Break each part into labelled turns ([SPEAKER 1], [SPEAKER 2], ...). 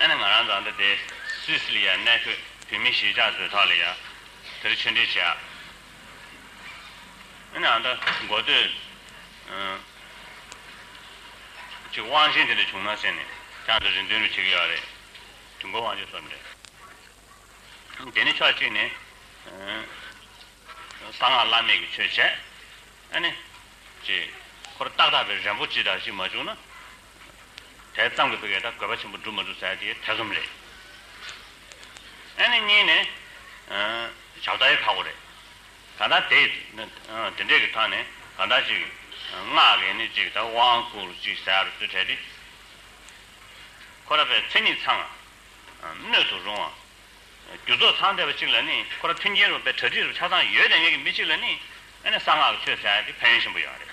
[SPEAKER 1] ཨ་ནི་ང་རང་རྫ་མདའ་སྡེ་སུད་སི་ལི་ཡར་གནས་འཁོད་བོད་མི་གཞིས་ཆགས་ཟོས་ཐག་ལ་ཡར་དེར་ཆོས་འབྲེལ་བྱས། ཨ་ནི་ཨ་མདའ་མགོ་སྟོད་ཀྱི་དབང་ཆེན་དེ་འདྲ་བྱུང་ན་ཟེར་ནས་ཀྱང་འདིར་རེ་འདུན་རེ་བྱེད་ཀྱི་ཡོད་རེད། དུས་འགོར་དབང་ཆེན་སོགས་འདྲ། དེ་ནི་ཕྱོགས་གཅིག་ནས་གསང་སྔགས་བླ་མེད་ཀྱི་ཆོས་བྱས། ཨ་ནི། ཅེས་ཁོ་ར་ཏག་ཏག་པའི་རེ་འབོ་ཅི་དག་ཞིག་མ་བྱུང་ན་དེ་ཙམ་གྱི་བུ་གས་དགོས་པ་ཆེན་པོ་བསྒྲུབ་མ་བསྒྲུབ་བསལ་དེ་ཐེ་ཚོམ་རེད། ཨེ་ནི་གཉིས་ནི། བྱབ་རྟ་ཡི་ཁ་སྒོ་རེད། ད་ལྟ་དེ་དེ་འདྲས་ཀྱི་ཐང་ནས་གང་འདྲ་ཅིག་སྔགས་ཀྱིས་ནི་ཅིག་དང་དབང་བསྐུར་ཅིག་བསལ་བར་བཙུད་འཕྲལ་དེ། ཁོ་ར་པའི་མཚན་ཉིད་ཚང་བ། སྣོད་དུ་རུང་བ། རྒྱུ་ཚོགས་ཚང་བསྡད་པ་ཅིག་ལ་ནི་ཁོ་ར་མཐུན་རྐྱེན་རུང་བའི་གྲ་སྒྲིག་རུ་ཆ་ཚང་ཡོད་དེ་ཉིད་ཀྱི་མི་ཅིག་ལ་ནི་ཨེ་ནི་གསང་སྔགས་ཀྱི་ཆོས་བསལ་དེ་ཕན་ཡོན་ཆེན་པོ་ཡོད་རེད།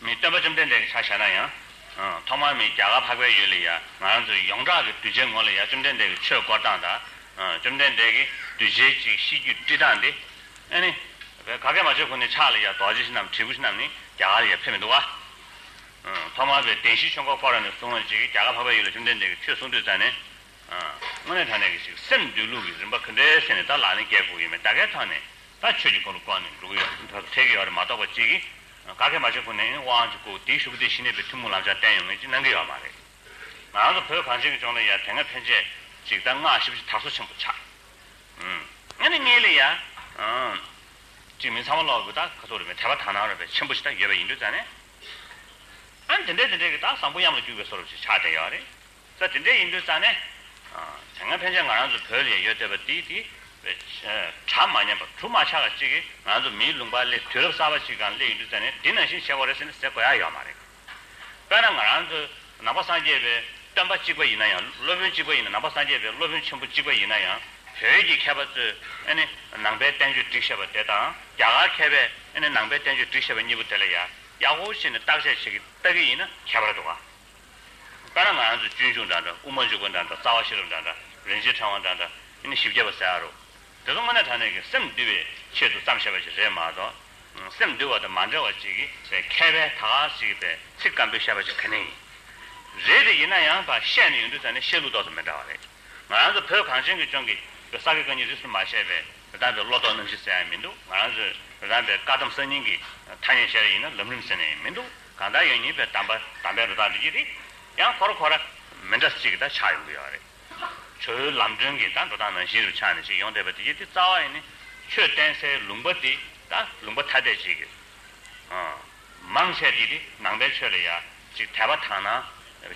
[SPEAKER 1] མི་སྟོན་པ་བཅོམ་ལྡན་འདས་ཀྱི་ཕྱག་བྱས་ན་ཡང། ཐོག་མར་མི་རྒྱ་གར་འཕགས་པའི་ཡུལ་ལ་ཡང་ང་རང་ཚོ་ཡོངས་གྲགས་ཀྱི་གདུལ་བྱའི་ངོ་ལ་ཡང་བཅོམ་ལྡན་འདས་ཀྱི་ཆོས་བསྐོར་སྟངས་དང། བཅོམ་ལྡན་འདས་ཀྱི་གདུལ་བྱའི་གཅིག་གཤིས་རྒྱུད་བཀྲི་སྟངས་ཏེ། ཨཱ་ནི། བོད་ག་གེ་མ་ཆོས་ཁུངས་ནས་ཕྱག་ལ་ཡང་རྡོ་རྗེ་ཞིག་རྣམས་བྲིས་སྐུ་ཞིག་རྣམས་ནི་རྒྱ་གར་ལ་ཡང་ཕེབས་མི་འདུག་བ། ཐོག་མར་བའི་བདེན་བཞིའི་ཆོས་འཁོར་བསྐོར་བ་ནས་བཟུང་བ་ཅིག་གིས་རྒྱ་གར་འཕགས་པའི་ཡུལ་ལ་བཅོམ་ལྡན་འདས་ཀྱི་ཆོས་གསུང་ཐོས་ཙང་ནས། དངོས་གནས་ད་ནས་ཀྱི་ཞིག་སེམས་འདུལ་ལུགས་ཀྱི་རིམ་པ་གུན་འདྲེ་སེ་ནས་ད་ལ་ནི་སྐྱེ་དགུ་ཡོད་མེད་ད་གའི་ཐང་ནས་ད་ཆོས་ཀྱི་འཁོར་ལོ་བསྐོར་ནས་འགྲོ་གི་ཡོད། ཐེག་གི་ཡོ་རེ་མ་གཏོགས་པ་ཅིག་གིས་ཀ་ཁའི་མ་བྱས་ཁུངས་ནས་དབང་གཅིག་སྐུ་དེའི་ཤུགས་རྐྱེན་ཞི་གནས་པའི་ཐུན་མོང་བླང་བྱ་བསྟན་ཡོང་ངེས་ཀྱི་གནང་གི་ཡོད་མ་རེད། ང་རང་ཚོ་བོད་གངས་ཅན་གྱི་ལྗོངས་ལ་ཡང་དེ་སྔ་ཕན་ཆད་ཅིག་གདམས་ངག་ཞིབ་ཅིག་དར་སོ་ཆེན་པོ་ཆགས། ང་ནི་ངའི་ལས་ཡགཅིག་མི་ཚང་བ་ལོག་གི་ཁ་ཐུག་རེད་མོད་དད་པ་དག་སྣང་རོལ་པའི་ཆེན་པོ་ཞིག་དག་ཡོད་པ་ཡིན་དུས་རྩ་ནས། ཨ་ནི་དེ་འདྲས་དེ་འདྲས་ཀྱི་དག་བཟང་པོ་གཡམ་ལ་རྒྱུག་པའི་སོ་རུབ་ཅིག་ཆགས་བསྡད་ཡོད་རེད། ས་དེ་འདྲས་ཡིན་དུས་ཙང་ནས། དེ་སྔ་ཕན་ཆད་ང་རང་ཚོ་བོད་ལ་ཡོད་བསྡད་པ་དེའི་དེ། གྲ་མ་ཉམས་པ་གྲུ་མ་ཆག་པ་ཅིག་གིས་ང་ཚོ་མིའི་ལུང་པར་སླེབས་དུས་རབས་གསར་པ་ཅིག་གང་སླེབས་ཡིན་དུས་ཙང་ནས་འདི་ནང་བཞིན་བྱེད་དགོས་རེད་ཟེར་ནས་ཟེར་དགོས་ཡ་ཡོད་མ་རེད། དཔེར་ན་ང་རང་ཚོ་ནང་པ་སངས་རྒྱས་པའི་སྟོན་པ་གཅིག་པ་ཡིན་ན་ཡང་སློབ་དཔོན་གཅིག་པ་ཡིན་ན་ནང་པ་སངས་རྒྱས་པའི་སློབ་དཔོན་ཆེན་པོ་གཅིག་པ་ཡིན་ན་ཡང་བོད་ཀྱི་མཁས་པ་ཚོས་ཨེ་ནི་ནང་པའི་བསྟན་བཅོས་བསྒྲིགས་ཤེས་པ་དེ་དང་རྒྱ་གར་མཁས་པས་ཨེ་ནི་ནང་པའི་བསྟན་བཅོས་བསྒྲིགས་ཤེས་པ་གཉིས་པོ་དེ་ལ་ཡ་ཡག་པོ་བྱས་ནས་བརྟག་དཔྱད་བྱེད་ཀྱི་ལྟ་གི་ཡིན་ན་ཁྱད་པར་འགྲོ་ག། དཔེར་ན་ང་རང་ཚོའི་སྤྱོད་འཇུག་འདྲ་འདྲ་དབུ་མ་འཇུག་པ་འདྲ་འདྲ་རྩ་བ་ཤེས་རབ་འདྲ་འདྲ་རིན་ཆེན་ཕྲེང་བ་འདྲ་འདྲ་ཨེ་ནི་བཞི་བརྒྱ་པ་ཟེར་ཨ་རོ། དེ་ཚོ་དངོས་གནས་དྲ་གནས་ཀྱི་སེམས་བསྡུ་བའི་ཆེད་དུ་བརྩམས་བྱས་པ་ཞིག་རེད་མ་གཏོགས། སེམས་བསྡུ་བ་དང་མ་འབྲེལ་བ་ཅིག་གིས་པའི་མཁས་པའི་དག་ཅིག་པའི་ཚིག་སྐམ་པོས་བཤད་པ་ཞིག་ག་ནས་ཡིན། རེད་དེ་ཡིན་ན་ཡང་བ་བཤད་ནི་ཡོད་འདུག་ད་ནི་བཤད་ལུགས་ཏོག་ཙམ་མི་འདྲ་བ་རེད། ང་རང་ཚོ་བོད་གངས་ཅན་གྱི་ལྗོངས་ཀྱི་བོད་ས་དགེ་བཀའ་རྙིང་རིས་སུ་མ་ཆད་པའི་དོ་དམ་པའི་བློ་ལྡོག་རྣམ་བཞི་ཟེར་ཡང་མི་འདུག་ང་རང་ཚོའི་དོ་དམ་པའི་བཀའ་གདམས་གསར་རྙིང་གི་ཐ་སྙད་བཤད་ར་ཡིན་ན་ལམ་རིམ་ཟེར་ནས་ཡང་མི་འདུག། གང་དག་ཡོད་ཉིད་པའི་དམ་པ་དམ་པའི་རི་དྭགས་འདྲི་གྱི་རེད། ཡང་འཁོར་འཁོར་ར། མི་འདྲ་གཅིག་གི་དག་ཆགས་ཡོང་གི་ཡོད་རེད། ཁྱོད་ལམ་སྒྲོན་གྱི་དག་འགྲོ་སྟངས་ནང་བཞིན་རུ་ཆགས་ནས་ཅིག་ཡོང་བསྡད་པ་འདི་གྱི་དེ་རྩ་བ་ཡིན་ནི། ཁྱོད་བསྟན་སའི་ལུང་པ་འདི་དག་ལུང་པ་ཐ་དད་ཅིག་གི། མང་ཆད་ཀྱི་དེ་ནང་པའི་ཆོས་ལ་ཡ། ཅིག་དད་པ་དང་ནང་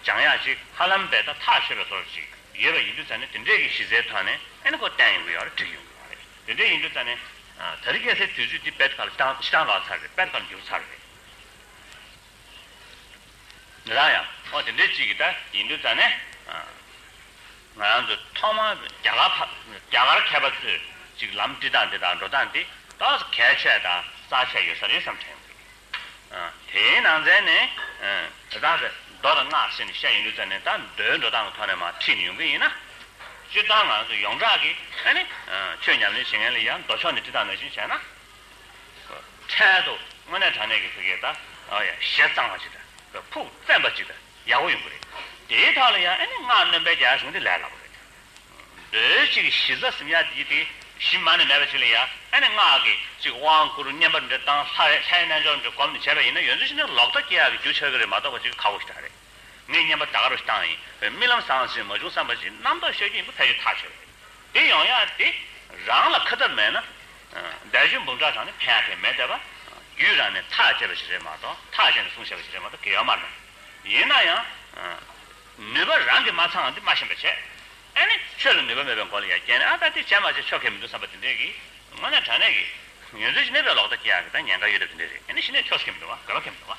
[SPEAKER 1] སྦྱང་ཡ་ཅིག་ཧ་ལམ་པའི་དག་ཐག་ཆོད་པའི་ཐོག་རུ་ཅིག་ཡོད་པ་ཡིན་དུས་རྩ་ནས་དེ་འདྲས་ཀྱི་གཞི་རྩའི་ཐོག་ནས་ཨེ་ནི་ཁོ་བསྟན་ཡོང་གི་ཡོད་རེད་འགྲིག་ཡོང་གི་ཡོད་རེད་དེ་འདྲས་ཡིན་དུས་རྩ་ནས། ད་རི་སྐྱེས་སའི་དུས་ཚོད་འདི་པད་དཀར་ལ་ཅི་ལྟར་ལག་ཚར་རེད་པད་དཀར་འགྱུར་ཚར་རེད། རང་ཡང་ཨོ་དེ་འདྲའི་ཅིག་ད་ཡིན་འདུག་ད་ནས་ང་རང་ཚོ་ཐོག་མར་རྒྱ་གར་ཕ་རྒྱ་གར་མཁས་པ་ཚོས་ཅིག་ལམ་བཀྲི་སྟངས་འདི་དང་འགྲོ་སྟངས་འདི་དག་གལ་ཆེ་དང་གསར་ཆེ་ཡོད་ས་རེད་བསམ་དྲན་འདུག་དེའི་ནང་ཚན་ནས་དེ་དག་གི་མདོ་དང་སྔགས་ཟེར་ནས་བཤད་ཡིན་འདུག་ད་ནས་ད་མདོའི་འགྲོ་སྟངས་ཀྱི་ཐོག་ནས་མ་ཁྲིད་ནས་ཡོང་གི་ཡིན་ན་སྤྱིར་བཏང་ང་རང་ཚོ་ཡོངས་གྲགས་ཀྱིས་ཨ་ནི་ཆོས་ཉམས་ལེན་བྱེད་མཁན་ལ་ཡང་མདོ་ཕྱོགས་ནས་བཀྲི་སྟངས་མེད་ཅིང་བྱས་ན། འཕྲལ་དུ་དངོས་གནས་དྲང་གནས་ཀྱི་ཐུགས་ཀྱི་ཞལ་གཙང་བ་ཅིག་དང་ཕུགས་བཙན་པ་ཅིག་དང་ཡག་པོ་ཡོང་གི་རེད། དེའི་ཐག་ལ་ཡང་སྔགས་བསྣོན་པའི་རྒྱ་བྱུང་དེ་ལས་སླ་པོ་རེད། རྡོལ་གཅིག་གཞི་རྩ་གཟིམ་ཡག་འདི་དེ་གཞི་མ་ནས་མེད་པ་ཅིག་ལ་ཡང་སྔགས་ཀྱི་ཅིག་དབང་བསྐུར་བསྙེན་པ་འདི་བཏང་ལྷའི་རྣལ་འབྱོར་འདི་བསྒོམ་ནས་བྱས་པ་ཡིན་ན་ཡོན་ཚུལ་ཤིན་ཏུ་ལོག་ལྟ་སྐྱེ་ཡག་གི་རྒྱུ་ཆགས་ཀྱི་རེད་མ་གཏོགས་པ་ཅིག་ཁག་པོ་ཞིག་གྲགས་རེད། མི་སྙན་པ་དག་རུ་བཏང་ཡིན། རྨི་ལམ་ཟང་ཟིང་མ་བྱུང་བསམ་པ་བཞིན་རྣམ་རྟོག་ཤེས་རྒྱུ་ཡིན་པ་ཕལ་ཆེར་ཐག་ཆོད་རེད། དེ་ཡང་ཡང་དེ་རང་ལ་ཁ་ཐབས་མེད་ན། འདས་ཞོལ་འབུམ་ཕྲག་དང་ནི་ཕན་ཐེག་མེད་དེ། རྒྱུད་རང་ནས་ཐག་བཅད་པ་ཞིག་རེད་མ་གཏོགས་ཐག་བཅད་ནས་གསུང་བཤད་པ་ཞིག་རེད་མ་གཏོགས་གེགས་མ་རེད། ཡིན་ན་ཡང། ནུས་པ་རང་གིས་མ་ཚང་ང་འདི་མ་ཤེས་པར་བྱས། ཨེ་ནི་ཆོས་ལ་ནུས་པ་མེད་པའི་མགོ་ལ་ཡ་བསྐྱལ་ནས་ཨ་ད་འདི་བྱས་མ་བྱས་ཆོ་གས་མི་འདུག་བསམ་པ་དེ་འདྲས་ཀྱིས། དངོས་གནས་དྲང་གནས་ཀྱིས། ཡོན་ཚུལ་གྱིས་གནས་པའི་ལོག་ལྟ་སྐྱེ་ཡག་གི་ད་ཉེན་ཁ་ཡོད་རབས་དེ་འདྲས་རེད། ཨེ་ནི་ཤི་ནས་ཆོག་ཤེས་མི་འདུག་བ་དགོས་པ་ཁེལ་མི་འདུག་བ།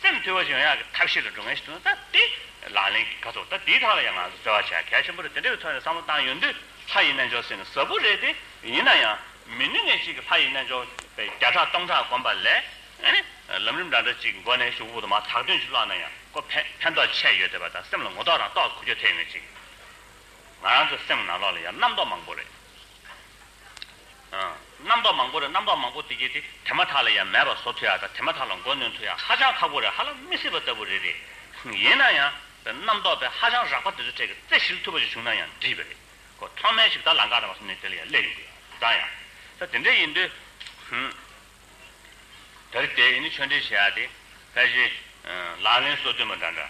[SPEAKER 1] སེམས་དུལ་བ་ཞིག་ཡོང་ཡག་གི་ཐབས་ཤེས་ལ་འགྲོ་མཁན་ཞིག་ཐོན་ན་ད་དེ་ལག་ལེན་གྱི་ཁ་ཐོར་ད་དེའི་ཐག་ལ་ཡང་ང་ཚོ་བརྩེ་བ་བྱ་གལ་ཆེན་པོ་རེད་དེ་འདྲ་བའི་ཐོག་ནས་བསམ་བློ་བཏང་ཡོང་དུས་ལྷ་ཡི་རྣལ་འབྱོར་ཟེར་ནི་ཟབ་པོ་རེད་དེ་ཡིན་ན་ཡང་མི་ནུས་ངེས་ཅིག་གི་ལྷ་ཡི་རྣལ་འབྱོར་པའི་བརྒྱ་ཕྲག་སྟོང་ཕྲག་བསྒོམ་པ་ལས་ལམ་རིམ་འདྲ་འདྲ་ཅིག་གི་མགོ་ནས་ཞུགས་འོག་ཏུ་མ་དག་དོན་ཅིག་བཀླགས་ན་ཡང་ཀོ་ཕན་ཐོགས་ཆེ་ཡོད་བསྡད་པ་དང་སེམས་ལ་ངོ་ཐོག་རང་རྟོགས་ཁུར་རྒྱུ་ཐེག་ངེས་ཅིག་ང་རང་ཚོའི་སེམས་ནང་ལོགས་ལ་ཡང་རྣམ་རྟོག་མང་པོ་རེད། རྣམ་པ་མང་པོ་རེད་རྣམ་པ་མང་པོ་དེ་གྱིས་དེ་དེ་མ་ཐག་ལ་ཡང་མེད་པར་བཟོ་ཐུ་ཡག་དང་དེ་མ་ཐག་ལ་མགོ་གནོན་ཐུ་ཡག་ཧ་ཅང་ཁག་པོ་རེད་ཧ་ལ་མི་སྲིད་པ་ལྟ་བུ་རེད་རེད། ཡིན་ན་ཡང་བའི་རྣམ་རྟོག་པའི་ཧ་ཅང་རགས་པ་དེ་ཚོའི་གྲས་ཀྱི་རྩེ་ཞིལ་ཐུབ་པ་ཞིག་བྱུང་ན་ཡང་འགྲིགས་པ་རེད་ཀོ་ཐོག་མའི་ཞིབ་ལྟ་ལ་འགག་ན་མ་གསུམ་ནས་དེ་ལ་ཡང་སླེབས་ཡིན་དགོས་ཡོད་ཙང་ཡང་ད་དེ་འདྲ་ཡིན་དུས། དེར་བལྟས་ཡིན་ནི་ཆོས་འབྲེལ་བྱས་ཡག་དེ་ཕལ་ཆེར། ལག་ལེན་སྲོལ་བཏོན་པ་འདྲ་འདྲ་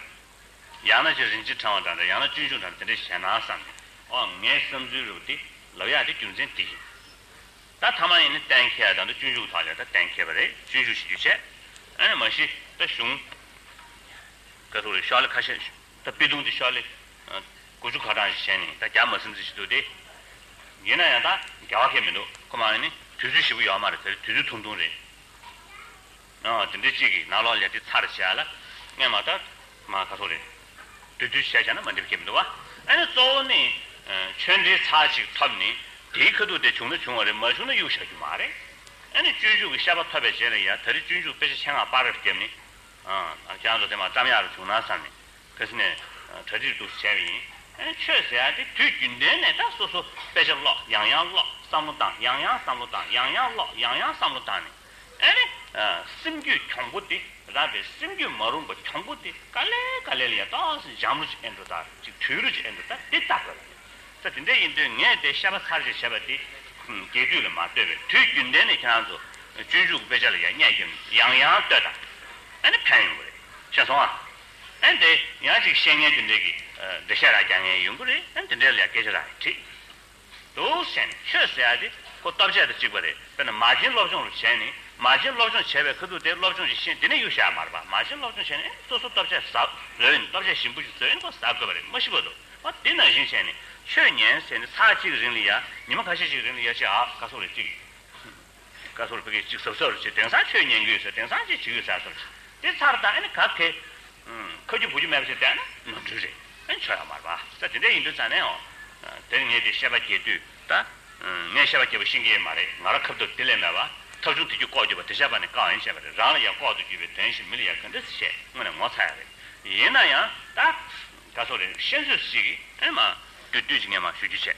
[SPEAKER 1] ཡང་ན་ཅི་རིན་ཅི་བགྲང་བ་དང་འདྲ་ཡང་ན་སྤྱོད་འཇུག་དང་དེ་འདྲ་བྱས་ན་བསམ་སྟེ། ཨོ་ངའི་བསམ་ཚུལ་རེ་བ་དེ་ལབ་ཡག་དེ་རྒྱུ་མཚན་དེ་ཡིན། ད་ཐ་མ་ཡིན་ནི་གཏན་འཁེལ་དང་འདྲ་སྤྱོད་འཇུག་དག་ལས་ད་གཏན་འཁེལ་བ་རེད་སྤྱོད་འཇུག་བྱེད་རྒྱུ་ཆད། ཨེ་ནས་མ་གཞི་ད་གཞུང། ཀ་ཐུག་རེ་ཤོག་ལེ་ཁ་ཤས་ཤོག་ད་པི་ཏུང་དེ་ཤོག་ལེ། དགུ་བཅུ་ཁ་གྲངས་ཤིག་བྱས་ནས་ད་རྒྱ་མ་སེམས་ཚེ་ཞིག་འདུག་སྟེ། ཡིན་ན་ཡང་ད་རྒྱ་བ་ཁེ་མི་འདུག་ཁོ་མ་ཡིན་ནི་དུས་ཚོད་ཞིབ་པོ་ཡོད་མ་རེད་དེར་དུས་ཚོད་ཐུང་ཐུང་རེད། དེ་འདྲའི་གཅིག་གིས་ནག་ལོག་ལས་དེ་ཚར་བྱས་ལ། སྔས་མ་ལྟར། མ་ག་ཚོགས་རེད། དུས་དུས་བྱས་བྱས་ན་མ་འགྲིབ་ཁེ་མི་འདུག་བ། ཨ་ནི་གཙོ་བོ་ནི། ཆོས་འབྲེལ་ཚར་གཅིག་ཐོབ་ནས། དེའི་ཁ་ཐུག་དེ་བྱུང་ན་བྱུང་བ་རེད་མ་བྱུང་ན་གཡུག་བཞག་རྒྱུ་མ་རེད། ཨ་ནི་སྤྱོད་འཇུག་གི་ཤ་པ་ཐོབ་པའི་རྗེས་ལ་ཡ་ད་རི་སྤྱོད་འཇུག་དཔེ་ཆ་ཆེད་མངགས་པར་རེར་བསྐྱབས་ནས། ཨང། རྒྱ་མཚོ་དེ་མ་བཀྲམ་ཡག་རུ་བྱུང་ན་བསམ་ནས། ཕེ་སི་ནས། གྲ་སྒྲིག་འདུག་བྱས་པ་ཡིན། ཨ་ནི་ཆོས་ཟེར་ཡག་དེ་དུས་རྒྱུན་ལྡན་ནས་ད་སོ་སོ་དཔེ་ཆ་ཀློག་ཡང་ཡང་ཀློག་བསམ་བློ་བཏང་ཡང་ཡང་བསམ་བློ་བཏང་ཡང་ཡང་ཀློག་ཡང་ཡང་བསམ་བློ་བཏང་ནས། ཨེ་རེད། སེམས་རྒྱུད་གྱོང་པོ་དེ་རགས་པའི་སེམས་རྒྱུད་མ་རུངས་པ་གྱོང་པོ་དེ་ག་ལེ་ག་ལེ་ལ་ཡང་ཏོག་འཇམ་རུ་ཅིག་ཨེ་འགྲོ་ད་ཅིག་དུལ་རུ་ཅིག་ཨེ་འགྲོ་ད་དེ་ལྟ་དགོས་པ་རེད། ད་དེ་འདྲ་ཡིན་དུས་ངས་དེ་བཤད་པ་ཚར་རྗེས་བྱས་པ་དེ་རྒྱས་བསྡུས་ལ་མ་ལྟོས་པའི་དུས་རྒྱུན་ལྡན་ནས་ཁྱེད་རང་ཚོ་སྤྱོད་འཇུག་གི་དཔེ་ཆ་ལ་ཡང་བསྙད་སྐྱོན་ཡང་ཡང་བཏོད་ད་ཨེ་ནི་ཕན་ཡོང་གི་རེད་ཤེས་སོང་ཨ། ཨེ་དེ་ཡང་ཅིག་བཤད་ངན་དེ་འདྲས་ཀྱི་འབྲི་བཤད་རགས་རྒྱག་ངན་ཡོང་གི་རེད་ཨེ་དེ་འདྲས་ལ་ཡང་སྐད་ཆ་རགས་ཡང་དྲིས། དུ་ཞེན་ཁྱོད་ཟེར་ཡག་དེ་ཁོ་སྟོབས་ཆེ་དང་གཅིག་པ་རེད་དཔེར་ན་མ་བྱིན་སློབ་སྦྱོང་བྱས་ནས་མ་བྱིན་སློབ་སྦྱོང་བྱས་པའི་ཁ་ཐུག་དེ་སློབ་སྦྱོང་བྱེད་ཤེས་དེ་ནས་གཡུག་བཞག་མ་རེད་པ་མ་བྱིན་སློབ་སྦྱོང་བྱས་ནས་ཨེ་སོ་སོ་སྟོབས་ཆེ་ཟ་དགོས་ཡིན་སྟོབས་ཆེ་ཞིམ་པོ་ཞིག་བཟོས་ཡིན་ཁོ་ཟ་དགོས་པ་རེད་མ་ཤི་བོ་དུ་བ་དེ་ནང་བཞིན་བྱས་ནས་ཆོས་ཉན་ཟེར་ནས་ཚ་གཅིག་རིང་ལི་ཡ་ཉི་མ་ཁ་ཤས་ཤིག་རིང་ལི་ཡ་བྱས་ཨ་དགའ་སོགས་རེད་ཅིག་བཀའ་ཟུར་བོད་སྐད་གཅིག་ཟབ་ས་རུ་བྱེད་དེང་སང་ཆོས་ཉན་རྒྱུ་ཡོད་ས་དེང་སང་ཅིག་བྱེད་ཡོད་ས་སོར་བྱེད་དེ་ཚར་དང་ཨ་ནི་ག་གེ། ཁ་རྒྱུ་བུ་རྒྱུ་མེད་པ་ཞིག་བསྡད་ན་ནོར་འཁྲུལ་རེད་ཨ་ནི་ཆོས་ཡག་མར་བ་ས་དེ་འདྲས་ཡིན་དུས་ཙང་ནས་ཨོ། དེར་ངས་དེ་ཤེས་པ་སྐྱེས་དུས་ད། ངས་ཤེས་པ་སྐྱེས་པ་ཤིང་སྐྱེས་མ་རེད་ང་རང་ཁབ་ཐུབ་དེ་ལས་མེད་བ། ཐབས་བྱུང་དེ་རྒྱུ་ལྐོག་གྱུར་པ་དེ་བཤད་པ་ནི་བཀག་ཡིན་བཤད་པ་རེད་རང་ལ་ཡ་ལྐོག་ཏུ་གྱུར་པའི་དོན་ཞིག་མི་ལ་ཡ་ག་འདྲི་བྱེད་དངོས་ནས་ངོ་ཚ་ཡ་རེད། ཡིན་ན་ཡང་ད། བཀའ་ཟུར་རེད་ཤེས་ཚོད་ཅིག་ཨེ་མ། དུས་ཀྱི་ངས་མ་ཞུ་རྒྱུ་བྱས།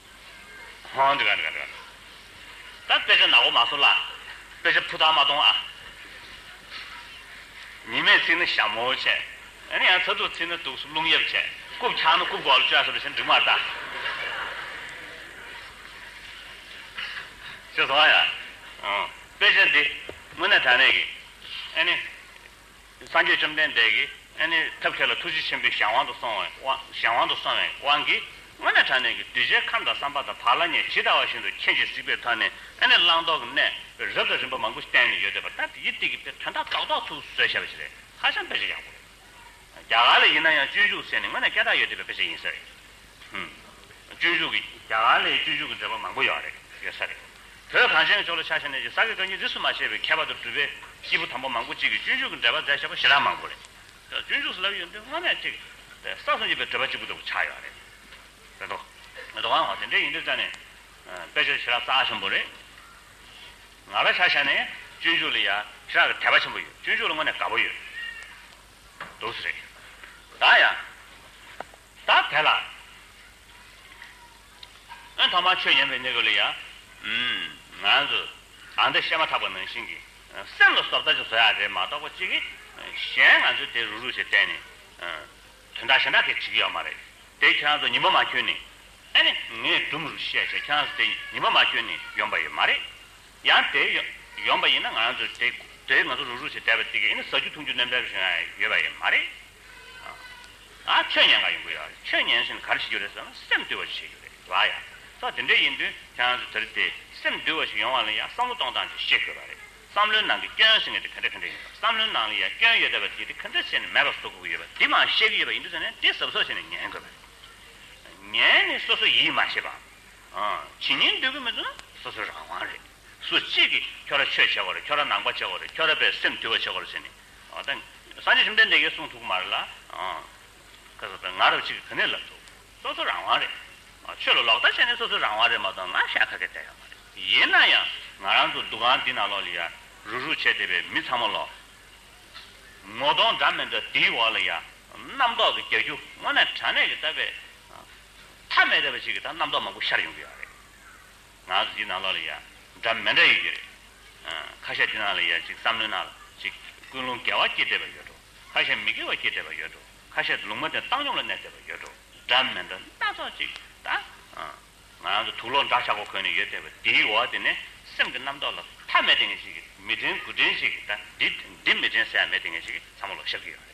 [SPEAKER 1] ཧོ། དཔེ་ཆ་ནག་པོ་མ་བཟོ་ལ། དཔེ་ཆ་ཕུ་ཐག་མ་གཏོང་ཨ། ཉི་མས་ཚིག་ན་ཞྭ་མོ་བྱས། ཨ་ཡང་ཚ་དུག་ཚིག་ན་དུག་སུབ་རླུང་གཡབ་བྱས། རྐུབ་འཁྱག་ན་རྐུབ་གོག་ལ་བཅོལ་ཟེར་བ་བཞིན་འབྲི་མར་བལྟ། ཅེས་སོ། ཨ་ཡ། དཔེ་ཆ་འདི་དངོས་གནས་དྲང་གནས་ཀྱི། སངས་རྒྱས་བཅོམ་ལྡན་འདས་ཀྱིས་ནི་ཐབས་མཁས་ལ་ཐུགས་རྗེ་ཆེན་པོས་གཞན་དབང་དུ་སོང་བའི་གཞན་དབང་དུ་སོང་བའི་དབང་གིས་སྔོན་ནས་དྲངས་ནས་ཀྱི་གདུལ་བྱའི་ཁམས་དང་བསམ་པ་དང་བག་ལ་ཉལ་ཇི་ལྟ་བ་བཞིན་དུ་ཁྱེད་ཀྱིས་གཟིགས་པའི་མཐའ་ནི་ནི་བླང་དོར་གྱི་གནས་རབ་དང་རིམ་པ་མང་པོ་བསྟན་ནས་ཡོད་དེ་པ་ད་དེའི་སྟེགས་ཀྱི་དཔེ་དོན་དག་རྟོག་རྟོག་ཐུགས་གསོས་བྱ་བ་ཞིག་རེད་ཧ་ཅང་དཔེ་ཆ་ཡག་པོ་རེད་རྒྱ་གར་ལ་ཡིན་ན་ཡང་སྤྱོད་འཇུག་ཟེར་ནས་སྔོན་ནས་སྐད་གྲགས་ཡོད་དེ་པའི་དཔེ་ཆ་ཡིན་ས་རེད་སྤྱོད་འཇུག་གི་རྒྱ་གར་ལས་སྤྱོད་འཇུག་གི་འགྲེལ་པ་མང་པོ་ཡོད་རེད་ཡོད་ས་རེད། བོད་གངས་ཅན་གྱི་ཕྱོགས་ལ་ཕྱག་བཞེས་ནས་ཀྱི་ས་དགེ་བཀའ་རྙིང་རིས་སུ་མ་ཆད་པའི་མཁས་པ་དང་གྲུབ་པའི་སྐྱེས་བུ་དང་པོ་མང་པོ་གཅིག་གིས་སྤྱོད་འཇུག་གི་འགྲེལ་པ་མཛད་ཆོག་པ་ཞེ་དྲག་མང་པོ་རེད། སྤྱོད་འཇུག་སུ་ལབ་ཡོད་འདི་སྔ་མས་གཅིག་ས་གསུམ་བརྒྱུད་པའི་འགྲེལ་པ་གཅིག་པུ་ལྟ་བུ་ཆགས་ཡོད་རེད། རེད་དོ། རེད་དོ། ཨང། དེ་འདྲས་ཡིན་དུས་ཙཱ་ནས་དཔེ་ཆ་ཞེ་དྲག་བཙལ་ཆེན་པོ་རེད། ང་རང་ཕྱག་བཞེས་ནས་སྤྱོད་འཇུག་ལ་ཡ་ཞེ་དྲག་གི་དད་པ་ཆེན་པོ་ཡོད་སྤྱོད་འཇུག་ལ་དངོས་ནས་དགའ་པོ་ཡོད། འདུག་ས་རེད། ད་ཡང། ད་དེ་ལ་ཨོན་ཐོག་མར་ཆོས་ཉན་པའི་གནས་སྐབས་ལ་ཡང། ང་ཚོ་ཨ་འདི་བཤད་མ་ཐག་པ་ནང་བཞིན་གྱི་སེམས་ལ་སོབ་ལྟ་ཅིག་བཟོ་ཡ་རེད་མ་གཏོགས་པ་གཅིག་གིས་གཞན་ང་ཚོའི་དེ་རུག་རུག་བྱེད་གཏན་ནས་དོན་དག་ཞེ་འདྲ་གས་བྱེད་ཀྱི་ཡོད་མ་རེད་དེ་ཁྱོད་རང་ཚོ་ཉི་མ་མ་ཁྱོད་ནས་ཨ་ནི་ངས་སྦྲུམ་རུག་བཤད་བྱས་ཁྱོད་རང་ཚོ་དེ་ཉི་མ་མ་ཁྱོད་ནས་ཡོང་པ་ཡོད་མ་རེད་ཡང་དེ་ཡོང་པ་ཡིན་ན་ང་ཚོ་དེ་དེ་ང་ཚོ་རུག་རུག་བྱེད་བསྡད་པ་དེ་གས་ཨ་ནི་ཟ་རྒྱུ་འཐུང་རྒྱུ་གནོད་འབེབས་བྱུང་ཡ་ཡོད་པ་ཡིན་མ་རེད། ཆོས་ཉན་གང་ཡོང་གི་ཡོད་ཆོས་ཉན་ཟིན་ག་རེ་བྱེད་རྒྱུ་རེད་ཟེར་ན་སེམས་བསྡུས་པ་ཞིག་བྱེད་རྒྱུ་རེད་ལ་ཡ་ད་དེ་འདྲས་ཡིན་དུས་ཁྱེད་རང་ཚོས་དེ་རེད་དེ་སེམས་བསྡུས་པ་ཞིག་ཡོང་བ་ལ་ཡ་བསམ་བློ་གཏོང་སྟངས་ཅིག་ཤེས་དགོས་པ་རེད་བསམ་བློའི་ནང་གི་སྐྱོན་ཟེར་ངེས་དེ་ག་འདྲས་ག་འདྲས་ཡིན་པ་བསམ་བློའི་ནང་ལ་ཡ་སྐྱོན་ཡོད་བསྡད་པ་དེ་དེ་ག་འདྲས་བྱས་ནས་མེད་པར་བཟོ་དགོས་ཀྱི་ཡོད་པ་འདི་མ་ཤེས་ཀྱི་ཡོད་པ་ཡིན་དུས་ཟེར་ནས་དེ་ཟབ་ཟོབ་བྱས་ནས་ཉན་དགོས་པ་རེད་ཉན་ནས་སོ་སོ་ཡིད་མ་ཆེས་པའམ། ཇི་སྙེད་འདོད་ཀྱི་མེད་དུས་ན་སོ་སོའི་རང་དབང་རེད་སུ་གཅིག་གིས་ཁྱོད་ར་ཆོས་བྱེད་དགོས་རེད་ཁྱོད་ར་ནང་པ་བྱེད་དགོས་རེད་ཁྱོད་ར་བས་སེམས་བསྡུས་པ་བྱེད་དགོས་རེད་ཟེར་ནས་དང། སངས་རྒྱས་བཅོམ་ལྡན་འདས་ཀྱིས་གསུངས་ཐུགས་མར་ལ། ཁ་ཟས་དང་ང་རབ་གཅིག་གི་གནས་ལ་འདུག། སོ་སོ་རང་དབང་རེད། ཆོས་ལ་ལོག་ལྟ་བྱས་ནས་སོ་སོའི་རང་དབང་རེད་མ་གཏོགས་ང་ཤ་ཁ་གེ་བསྡད་ཡོད་མ་རེད། ཡིན་ན་ཡང་ང་རང་ཚོ་འདུ་ཁང་འདི་ནང་ལོགས་ལ་ཡར་རུག་རུག་བྱས་བསྡད་པའི་མི་ཚང་མ་ལོགས། ངོ་གདོང་འདྲ་མི་འདྲ་དེའི་འོག་ལ་ཡར། རྣམ་རྟོག་གི་རྒྱ་ཁྱུ་དངོས་གནས་དྲ་གནས་ཀྱི་ལྟ་བས། མཐའ་མེད་རེད་པ་ཞིག་གིས་ད་རྣམ་རྟོག་མང་པོ་ཤར་ཡོང་གི་ཡོད་རེད། ང་ཚོ་འདི་ནང་ལོགས་ལ་ཡ། འདྲ་མི་འདྲ་ཡོད་ཀྱི་རེད། ཁ་ཤས་འདི་ནང་ལ་ཡ་ཅིག་བསམ་བློའི་ནང་ལ་ཅིག་ཀུན་སློང་དགེ་བ་སྐྱེས་བསྡད་པ་ཡོད་འགྲོ། ཁ་ཤས་མི་དགེ་བ་སྐྱེས་བསྡད་པ་ཡོད་འགྲོ། ཁ་ཤས་ལུང་མ་བསྟན་བཏང་སྙོམས་ལ་གནས་བསྡད་པ་ཡོད་འགྲོ། འདྲ་མི་འདྲ་སྣ་ཚོགས་ཅིག་ད། ང་ཚོ་དུག་ལོག་འདྲ་ཆགས་པོ་གོན་ནས་ཡོད་བསྡད་པ་འདིའི་འོག་དེ་ནས་སེམས་ཀྱི་རྣམ་རྟོག་ལ་མཐའ་མེད་བསྡད་ངེས་ཅིག་མི་དྲན་དགུ་དྲན་ཅིག་ད། འདི་མི་དྲན་ཟད་མེད་བསྡད་ངེས་ཅིག་ཚང་མ་ལོག་ཤག་གི་ཡོད་རེད།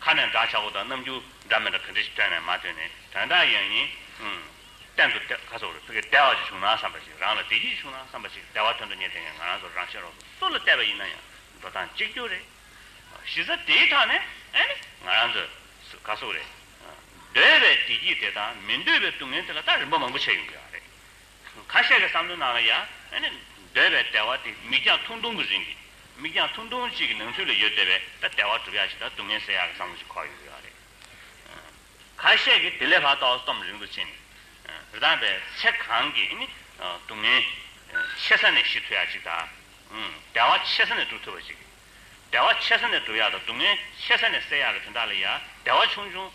[SPEAKER 1] ཁ་ནས་སྒྲ་ཆག་པོ་དང་རྣམ་འགྱུར་འདྲ་མི་འདྲ་ག་འདྲ་ཞིག་སྤྲད་ནས་མ་ཐོས་ནས་དོན་དག་ཡིན་ཡིན། གཏན་དུ་དེ་ཁ་སོར་བུ་གས་བདེ་བ་ཅིག་བྱུང་ན་བསམ་པ་ཞིག་རང་ལ་བདེ་སྐྱིད་ཅིག་བྱུང་ན་བསམ་པ་ཞིག་བདེ་བ་དོན་དུ་གཉེར་ཐེངས་ངང་རང་སོར་རང་ཤེས་རོགས་སུ་སུ་ལ་བལྟས་པ་ཡིན་ན་ཡང་འགྲོ་སྟངས་གཅིག་གྱུར་རེད། གཞི་རྩ་དེའི་ཐག་ནས་ཨེ་ནི་ང་རང་ཚོས་སུ་ཁ་སོར་རེད། འདོད་པའི་བདེ་སྐྱིད་དེ་དང་མི་འདོད་པའི་སྡུག་བསྔལ་དེ་ལ་ད་རིམ་པ་མང་པོ་བྱས་ཡོང་གི་ཡ་རེད། ཁ་ཤས་ཀྱི་བསམ་བློའི་ནང་ལ་ཡང། འདོད་པའི་དལ་བ་དེ་མིག་རྒྱང་ཐུང་ཐུང་གི་རིང་གི། མིག་རྒྱང་ཐུང་ཐུང་ཅིག་གི་ནང་ཚུད་ལ་ཡོད་བསྡད་པས་ད་དལ་བ་གྲུབ་ཡག་ཅིག་ད་སྡུག་བསྔལ་སེལ་ཡག་གི་བསམ་བློ་ཞིག་འཁོར་ཡོང་གི་ཡོད་རེད། ཁ་ཤས་ཀྱིས་དེ་ལས་ལྷག་ཏུ་ཨའོ་སི་ཏོམ་རིང་དུ་ཕྱིན་ནས། རི་དྭགས་པའི་ཚེ་གང་གི། སྡུག་བསྔལ། ཆེ་ས་ནས་ཤི་ཐུབ་ཡག་ཅིག་ད། དལ་བ་ཆེ་ས་ནས་འགྲུབ་ཐུབ་པ་ཅིག། དལ་བ་ཆེ་ས་ནས་འགྲུབ་ཡག་ད་སྡུག་བསྔལ་ཆེ་ས་ནས་སེལ་ཡག་གི་དོན་དག་ལ་ཡང་དལ་བ་ཆུང་ཆུང།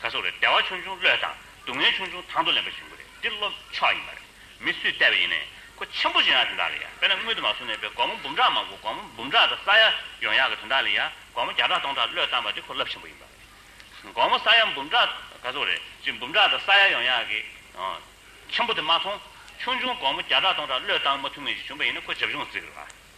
[SPEAKER 1] ག་སོགས་རེད་བདེ་བ་ཆུང་ཆུང་བློས་དང་སྡུག་བསྔལ་ཆུང་ཆུང་དང་དུ་ལེན་པ་བཞིན་པོ་རེད་འདི་བློ་ཕྱོགས་ཡིན་པ་རེད་མི་སུས་བལྟས་པ་ཡིན་ནའི་ཁོ་ཆེན་པོ་བཞིན་ཡང་དེ་འདྲ་ལ་ཡ་དཔེར་ན་དངུལ་དུ་མ་བཟུང་ནས་པའི་སྒོར་མོ་འབུམ་ཕྲག་མང་པོ་སྒོར་མོ་འབུམ་ཕྲག་དང་ས་ཡ་ཡོང་ཡག་གི་དོན་དག་ལ་ཡ་སྒོར་མོ་བརྒྱ་ཕྲག་སྟོང་ཕྲག་བློས་བཏང་པ་དེ་ཁོ་རླབས་ཆེན་པོ་ཡིན་པ་རེད་སྒོར་མོ་ས་ཡ་འབུམ་ཕྲག་ག་སོགས་རེད་ཅེས་འབུམ་ཕྲག་དང་ས་ཡ་ཡོང་ཡག་གི་ཆེན་པོ་དེ་མ་མཐོང་ཆུང་ཆུང་སྒོར་མོ་བརྒྱ་ཕྲག་སྟོང་ཕྲག་བློས་བཏང་མ་ཐུབ་ངེས་ཞིག་བྱུང་པ་ཡིན་ན་ཁོ་བྱབ་ཆུང་བརྩིགས་རེད་བ།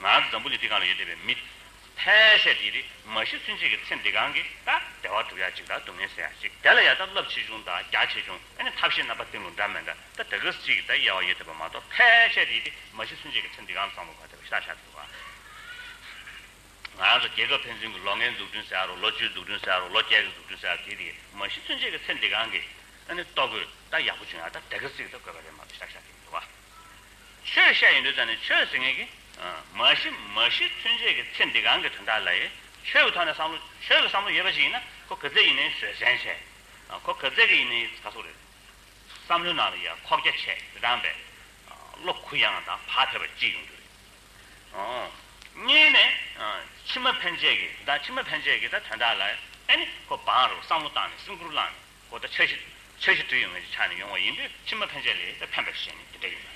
[SPEAKER 1] ང་ཚོ་འཛམ་བུ་གླིང་འདི་གང་ལ་ཡོད་བསྡད་པའི་མི། ཕལ་ཆེར་འདི་རིགས་མ་གཞི་ཚུན་ཆད་ཀྱི་ཚེ་འདི་གང་གི་ད་བདེ་བ་སྒྲུབ་ཡ་གཅིག་ད་སྡུག་བསྔལ་སེལ་ཡ་གཅིག་དེ་ལ་ཡ་ད་རླབས་ཆེ་ཆུང་ད་རྒྱ་ཆེ་ཆུང་ཨ་ནི་ཐབས་ཤེས་རྣམ་པ་སྟེང་ལུགས་འདྲ་མེད་འདྲ་ད་དེ་གི་གཅིག་གི་ད་དབྱེ་བ་ཡོད་བསྡད་པ་མ་གཏོགས་ཕལ་ཆེར་འདི་རིགས་མ་གཞི་ཚུན་ཆད་ཀྱི་ཚེ་འདི་གང་ལ་བསམ་བློ་བ་དེ་བ་ཤ་ཤ་ཐུབ་པ། ང་ཚོ་རྒྱལ་ཁབ་ཕན་ཚུན་གྱི་ལོ་ལྔའི་འཛུགས་སྐྲུན་ཟེར་ཡ་རོགས་ལོ་བཅུའི་འཛུགས་སྐྲུན་ཟེར་ཡ་རོགས་ལོ་བརྒྱད་ཀྱི་འཛུགས་སྐྲུན་ཟེར་ཡ་རོགས་དེ་དེ་མ་གཞི་ཚུན་ཆད་ཀྱི་ཚེ་འདི་གང་གི་ཨ་ནི་ལྟོ་གོས་ད་ཡག་པོ་བྱུང་ཡ་ད་དེ་གི་གཅིག་ད་དགོས་པ་རེད་མ་གཏོགས་ཤ་ཤ་ཐུབ་ཐུབ་པ། ཆོས་ཤ་ཡིན་དུས་ཙམ་ནས་ཆོས་ཟེར་ངེས་ཀྱི། མ་གཞི་མ་གཞི་མཐུན་རྗེས་ཀྱི་ཚེ་འདི་གང་གི་དོན་དག་ལ་ཡི་ཆོས་ཀྱི་ཐོག་ནས་བསམ་བློ་ཆོས་ཀྱི་བསམ་བློ་ཡོད་པ་ཞིག་ཡིན་ན་ཁོ་གི་ཚེ་ཡིན་ནའི་བཟོད་བསྲན་ཆེ། ཁོ་གི་ཚེ་གི་ཡིན་ནའི་ཚ་ཚུགས་རེད། བསམ་བློའི་ནང་ལ་ཡ་ཁོག་རྒྱ་ཆེ་དེ་དྲངས་པས། བློ་གུ་ཡངས་དང་བག་ཕེབས་པ་ཅིག་ཡོང་རྒྱུ་རེད། གཉིས་ནས། ཕྱི་མ་ཕན་ཆད་ཀྱི་ད་ཕྱི་མ་ཕན་ཆད་ཀྱི་ད་དོན་དག་ལ་ཨེ་ནི་ཁོ་བག་རེ་བ་བསམ་བློ་བཏང་ནས་སེམས་ཁུར་བླངས་ནས། གོ་བརྡ་འཆར་གཞི། འཆར་གཞི་དུས་ཡུན་ངེས་ཅན་ཆགས་ནས་ཡོང་བ་ཡིན་དུས་ཕྱི་མ་ཕན་ཆད་ལས་ཕན་པ་ཞིག་ནི་དེ་འདྲ་ཡིན་ནོ།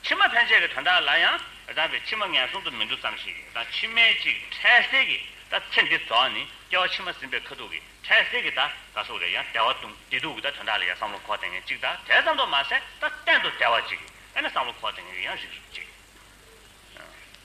[SPEAKER 1] ཕྱི་མ་ཕན་ཆད་ཀྱི་དོན་དག་ལ་ཡང་བདག་གི་ཕྱི་མ་ངན་སོང་དུ་མི་འགྲོ་ཙམ་ཞིག་གིས་དང་ཕྱི་མའི་ཅིག་འཕྲལ་སེལ་གྱི་ད་ཚེ་འདི་རྫོགས་ནས་སྐྱེ་བ་ཕྱི་མ་ཟིན་པའི་ཁ་ཐུག་གི་འཕྲལ་སེལ་གྱི་ད་ག་སོགས་རེ་ཡང་དལ་བ་དུང་བདེ་སྡུག་གི་ད་དོན་དག་ལ་ཡང་བསམ་བློ་འཁོར་ལྡན་ངན་ཅིག་ད་དལ་ཙམ་དུ་མ་ཟད་ད་གཏན་དུ་དལ་བ་ཅིག་གིས་ཨེ་ན་བསམ་བློ་འཁོར་ལྡན་ངན་གྱི་ཡང་རིགས་རུ་བཅས།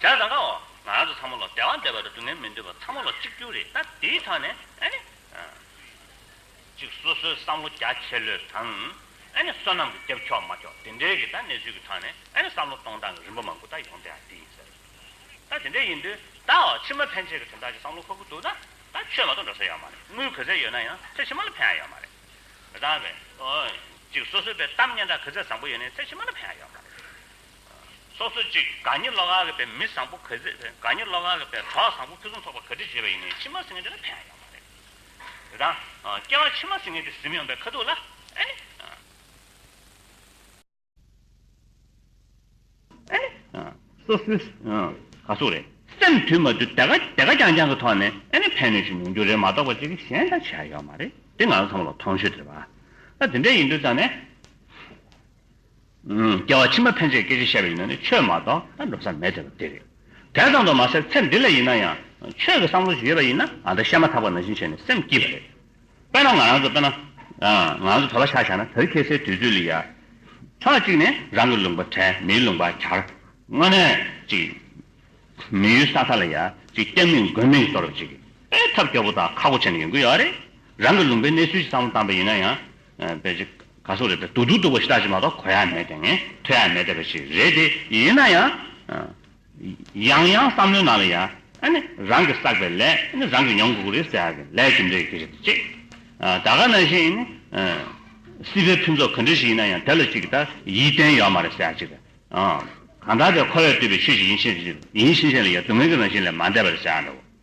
[SPEAKER 1] བྱས་ཙང་ཀའོ། ང་རང་ཚོ་ཚང་མ་ལོ་ཟླའི་དབང་འདས་པ་རེད་སྡུག་བསྔལ་མི་འདོད་པ་ཚང་མ་ལོ་གཅིག་གྱུར་རེད་ད་དེའི་ཐང་ནས་ཨ་ནི་ཨ། ཅིག་སོ་སོའི་བསམ་བློ་རྒྱ་ཆེ་ལོས་དང། ཨ་ནི་བསོད་ནམས་ཀྱི་རྒྱབ་ཕྱོགས་མ་ཕྱོགས་དེ་འདྲའི་གི་ད་གནས་ཚུལ་གྱི་ཐང་ནས་ཨ་ནི་བསམ་བློ་གཏོང་སྟངས་ཀྱི་རིམ་པ་མང་པོ་ད་ཡོང་དེ་ཨ་དེ་ཡིན་ཟེར། ད་དེ་འདྲ་ཡིན་དུས་དའོ་ཕྱི་མ་ཕན་ཆད་ཀྱི་དོན་དག་ཅིག་བསམ་བློ་འཁོར་གི་འདུག་ད་ད་ཆོས་མ་གཏོགས་འགྲོ་ས་ཡོད་མ་རེད་དངུལ་བུ་ཟེར་ཡོད་ན་ཡང་ཚེ་ཕྱི་མ་ལ་ཕན་ཡ་ཡོད་མ་རེད། རང་རེ། གཅིག་སོ་སོའི་བའི་གཏམ་སྙན་གྲགས་གོས་ཚད་བཟང་པོ་ཡོད་ནས་ཚད་ཕྱི་མ་ན་ཕན་ཡང་ཡོད། སོ་སོ་གཅིག་དགའ་ཉེ་བློ་དགའ་གི་བའི་མི་བཟང་པོ་གོས་ཚད་དགའ་ཉེ་བློ་དགའ་གི་བའི་གྲོགས་བཟང་པོ་ཕུན་སུམ་ཚོགས་པ་གོས་ཚད་བརྗེ་བ་ཡིན་ནས་ཕྱི་མ་སེང་གེ་འདྲ་ན་ཕན་ཡང་ཡོད་མ་རེད། དེ་དང། སྐྱེ་བ་ཕྱི་མ་སེང་གེ་འདི་གཟིམ་ཡོང་པའི་ཁ་ཐུག་ལ། སོ་སོའི་ག་སོ་རེད། སེམས་དུས་མ་དུས་དེ་ག་དེ་ག་རྐྱང་རྐྱང་གི་ཐོག་ནས་ཨེ་ནི་ཕན་ནི་ཞིག་མིན་རྒྱུ་རེད་མ་གཏོགས་པ་ཅིག་གཞན་ལྟར་བྱས་ཡོད་མ་རེད་དེ་ང་ཚོ་ཚང་མ་ལ་མཐོང་ཞོལ་དྲི་བ་ད་དེ་འདྲ་ཡིན་དུས་ཙང་ནས་སྐྱེ་བ་ཕྱི་མ་ཕན་ཆད་སྐད་ཆ་བཤད་པ་ཡིན་ན་ནི་ཆོས་མ་གཏོགས་ད་འགྲོ་ས་མེད་དེ་རེད་དེ་ཙམ་དུ་མ་ཟད་ཚེ་འདི་ལ་ཡིན་ན་ཡང་ཆོས་ཀྱི་བསམ་བློ་ཞིག་ཡོད་པ་ཡིན་ན་ད་བཤད་མ་ཐག་པ་ནང་བཞིན་བྱས་ནས་སེམས་སྐྱིད་པ་རེད་དཔེར་ན་ང་རང་ཚོ་དཔེར་ན། ང་རང་ཚོ་དར་ལ་ཤ་བཞག་ན་དར་ཁེལ་སའི་དུས་ཚོད་ལས་ཡར། ཕྱོགས་གཅིག་ནས་རང་གི་ལུང་པ་དྲན་མིའི་ལུང་པ་གྱར། དངོས་གནས་ཅིག། མི་ཡུལ་ས་ཁ་ལ་ཡར་ཅིག་སྐྱབས་མེད་མགོན་མེད་གཏོར་བ་ཅིག་སྤེལ་ཐབས་སྐྱོ་པོ་དང་ཁག་པོ་བྱས་ནས་ཡོང་གི་ཡོད་རེད། རང་གི་ལུང་པའི་གནས་ཚུལ་ཞིག་བསམ་བློ་བཏང་པ་ཡིན་ན་ཡང། དཔེ་ཆ་ག་སོགས་རེད་དེ་སྡུག་སྡུག་སྡུག་པ་ཞིག་དག་ཅིག་མ་གཏོགས་གོ་ཡ་མེད་དེ་ངན་ཐོས་ཡ་མེད་དེ་བ་ཞིག་རེད་དེ་ཡིན་ན་ཡང། ཡང་ཡང་བསམ་བློའི་ནང་ལ་ཡ། རང་གིས་བསགས་པའི་ལས་རང་གིས་མྱོང་དགོས་ཀྱི་རེད་ཟེར་ཡག་གི་ལས་ཀྱི་འབྲས་ཀྱི་རེད་ཅེས། ད་ག་ན་བཞིན། སྲིད་པའི་ཕུན་ཚོགས་ག་འདྲི་ཞིག་ཡིན་ན་ཡང་དེ་ལ་ཅིག་ལྟ་ཡིད་བརྟན་ཡོད་མ་རེད་ཟེར་ཡག་ཅིག། གང་ལྟར་དེ་ཁོ་བས་བཏུས་པའི་ཆོས་ཤིག་ཡིན་ཕྱིན་ཡིན་ཕྱིན་ཆད་ལ་ཡ་སྡུག་བསྔལ་གྱི་རང་བཞིན་ལས་མ་འདས་པ་རེད་ཟེར་ཡག་འདྲ་བོ།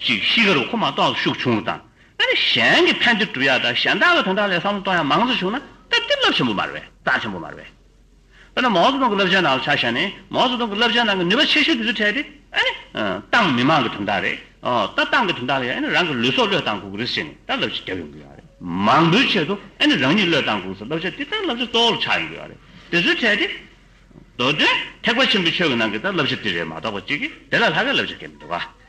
[SPEAKER 1] ཅིག་གཤིས་ཀ་རུ་ཁོ་མ་གཏོགས་ཤུགས་ཆུང་བ་དང། ཨ་ནི་གཞན་གྱི་ཕན་བདེ་བསྒྲུབ་ཡག་དང་གཞན་དག་གི་དོན་དག་ལས་བསམ་བློ་གཏོང་ཡག་མང་ཙམ་བྱུང་ན་སྟབས་བདེ་རླབས་ཆེན་པོ་མ་རེད་བས་རྟགས་ཆེན་པོ་མ་རེད་བས། དཔེར་ན་མའོ་ཙེ་ཏུང་གི་རླབས་ཆེན་ནང་ལ་ཆ་བཞག་ནས་མའོ་ཙེ་ཏུང་གི་རླབས་ཆེན་ནང་གི་ནུས་པ་ཆེ་ཤོས་དེ་ཚོ་ཕྲལ་ཏེ་ཨ་ནི། ཏང་མི་དམངས་གི་དོན་དག་རེད། ད་ཏང་གི་དོན་དག་ལ་ཡང་ཨ་ནི་རང་གི་ལུས་སྲོག་བློས་བཏང་དགོས་ཀྱི་རེད་ཟེར་ནས་ད་རླབས་ཆེ་བརྒྱབ་ཡོང་གི་ཡོད་རེད། མང་པོའི་ཆེད་དུ་ཨ་ནི་རང་ཉིད་བློས་བཏང་དགོས་ས་རླབས་ཆེ་དེ་ད་རླབས་ཆེ་གཙོ་བོ་ལ་ཆགས་ཡོང་གི་ཡོད་རེད། དེ་ཚོ་ཕྲལ་ཏེ། མདོ་དོན་ཐེག་པ་ཆེན་པོའི་ཆོས་ཀྱི་ནང་གི་ད་རླབས་ཆེ་དེ་རེད་མ་གཏོགས་པ་གཅིག་གིས་དེ་ལ་ལྷག་གི་རླབས་ཆེ་སྐྱེད་མི་འདུག་ག།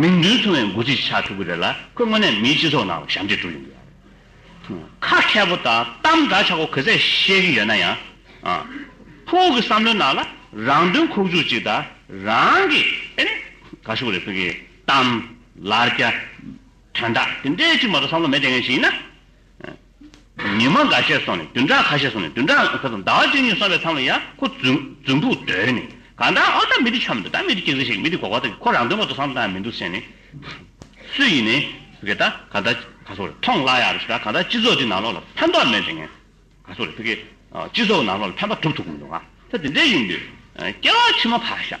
[SPEAKER 1] མིང་དོན་མཚུངས་བའི་འགོ་ཚུགས་ཤིག་ཆགས་ཐུབ་ཀྱི་རེད་ལ་ཁོས་དངོས་གནས་མིའི་སྤྱི་ཚོགས་ནང་ལ་ཞབས་འདེགས་སྒྲུབ་ཡོང་གི་རེད། ཁ་མཁས་པོ་དང་གཏམ་འདྲ་ཆགས་པོ་གུས་ཚད་ཤེས་ཀྱི་ཡོད་ན་ཡང། ཁོ་བོ་གྱི་བསམ་བློའི་ནང་ལ་རང་དོན་ཁོག་བཅུག་ཅིག་དང་རང་གི་ཨེ་ནས་ག་ཤོག་རེ་ཕུལ་གྱི་གཏམ། ལར་རྒྱ། དོན་དག་དེ་འདྲའི་ཅིག་མ་གཏོགས་བསམ་བློ་མེད་བསྡད་མཁན་ཞིག་ཡིན་ན། ཉི་མ་འགའ་ཤས་སོང་ནས་བདུན་ཕྲག་ཁ་ཤས་སོང་ནས་བདུན་ཕྲག་ཟླ་བ་བཅུ་གཉིས་སོང་བའི་མཚམས་ལ་ཡང་ཁོ་རྫུན་ཕུག་བརྡོལ་ནས་གང་ལྟར་ཨ་ད་མི་དེ་འཁྱམས་འདུག་ད་མི་དེ་སྐྱིད་ཟིག་ཞིག་མི་དེ་གོ་བ་ཐག་གིས་ཁོ་རང་དོན་མོ་དོ་བསམ་ཐག་མི་འདུག་ཟེར་ནས། སུ་ཡིན་ནའི་ཕི་གེ་ད་གང་ལྟར་ག་ཚོགས་རེད་ཐོངས་གླ་ཡག་རེད་ཟེར་ད་གང་ལྟར་སྤྱི་ཚོགས་འདི་ནང་ལོགས་ལ་ཕན་ཐོག་མེད་དྲན་ངན་ག་ཚོགས་རེད་ཕི་གེ། སྤྱི་ཚོགས་ནང་ལོགས་ལ་ཕན་པ་གྲུབ་ཐུབ་གི་མི་འདུག་ང་ད་དེ་འདྲའི་ཡིན་དུས་སྐྱེ་བ་ཕྱི་མ་ཕར་བཞག་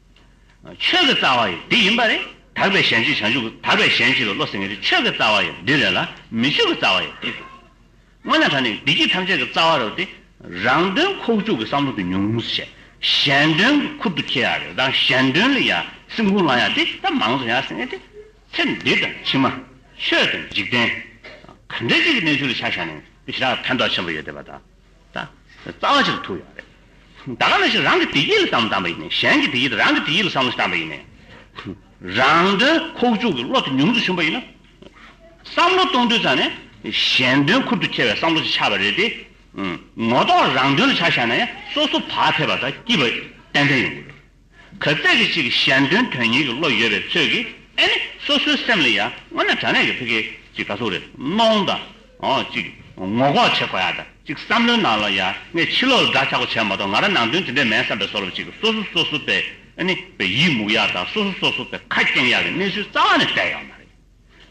[SPEAKER 1] ཆོས་ཀྱི་རྩ་བ་ཡི་འདི་ཡིན་པ་རེད། དག་པའི་གཞན་གཅེས་བྱང་ཆུབ་དག་པའི་གཞན་གཅེས་པའི་བློ་སེང་གེ་རེད་ཆོས་ཀྱི་རྩ་བ་ཡི་འདི་རེད་ལ་མི་ཆོས་ཀྱི་རྩ་བ་ཡི་འདི་རེད། སྔོན་ན་ད་ནི་བདེ་སྐྱིད་ཐམས་ཅད་ཀྱི་རྩ་བ་རེད་དེ། རང་དོན་ཁོག་བཅུག་གི་བསམ་བློ་དེ་ཉུང་ངུ་བྱས། གཞན་དོན་གྱི་ཁུར་དུ་འཁྱེར་ཡག་རེད་དང་གཞན་དོན་ལ་ཡང་སེམས་ཁུང་བླངས་ཡག་དེ་ད་མང་གཙོ་ཡག་སེང་གེ་དེ། ཚེ་འདི་དང་ཕྱི་མ། ཆོས་དང་འཇིག་རྟེན། ག་འདྲ་ཅིག་གི་གནས་ཚུལ་ལ་ཆ་བཞག་ནས་ཞི་དྲག་ཕན་ཐོག་ཆེན་པོ་ཡོད་བསྡད་པ་དང། རྩ་བ་ཅིག་ཏུ་ཐུག་ཡོད་རེད། ད་ག་ལ་ཞིག་རང་གི་དེ་ཡིད་ལ་བསམ་བསམ་པ་ཡིན་ནས་གཞན་གྱི་དེ་ཡིད་རང་གི་དེ་ཡིད་ལ་བསམ་བསམ་པ་ཡིན་ནས། རང་དོན་ཁོག་བཅུག་གི་བློ་དེ་ཉུང་དུ་ཕྱིན་པ་ཡིན་ན། བསམ་བློ་གཏོང་དུས་ཙམ་ནས་གཞན་དོན་ཁུར་དུ་འཁྱེར་བའི་བསམ་བློ་ཞིག་ཆགས་པ་རེད་དེ། ངོ་ཐོག་རང་དོན་ལ་ཆགས་བཞག་ན་ཡང་སོ་སོ་བག་ཕེབས་པ་དང་སྐྱིད་པ་ཏན་ཏན་ཡོང་གི་རེད། གར་སྟེགས་ཀྱི་གཅིག་གཞན་དོན་དོན་གཉིས་ཀྱི་བློ་ཡོད་པའི་ཚོད་ཀྱིས་ཨེ་ནི་སོ་སོའི་སེམས་ལ་ཡང་སྔོན་ན་དྲ་གནས་ཀྱི་ཕི་གེ་གཅིག་ག་ཚུགས་རེ་གནོང་དང། གཅིག་ངོ་ལྐོག་བྱེད་དགོས་ཡ་དང་གཅིག་བསམ་བློའི་ནང་ལ་ཡང་ངས་ཕྱི་ལོག་ལ་དགྲ་ཆགས་པོ་བྱས་མ་གཏོགས་ང་རང་ནང་དོན་དེ་འདྲས་མེད་བསམ་པའི་སོར་བ་གཅིག་གིས་སོ་སོ་སོ་སོ་པའི་ཨེ་ནི་པའི་ཡིད་མུག་ཡ་དང་སོ་སོ་སོ་སོ་པའི་ཁ་སྐྱེངས་ཡ་གི་གནས་ཚུལ་རྩ་བ་ནས་བལྟས་ཡོད་མ་རེད།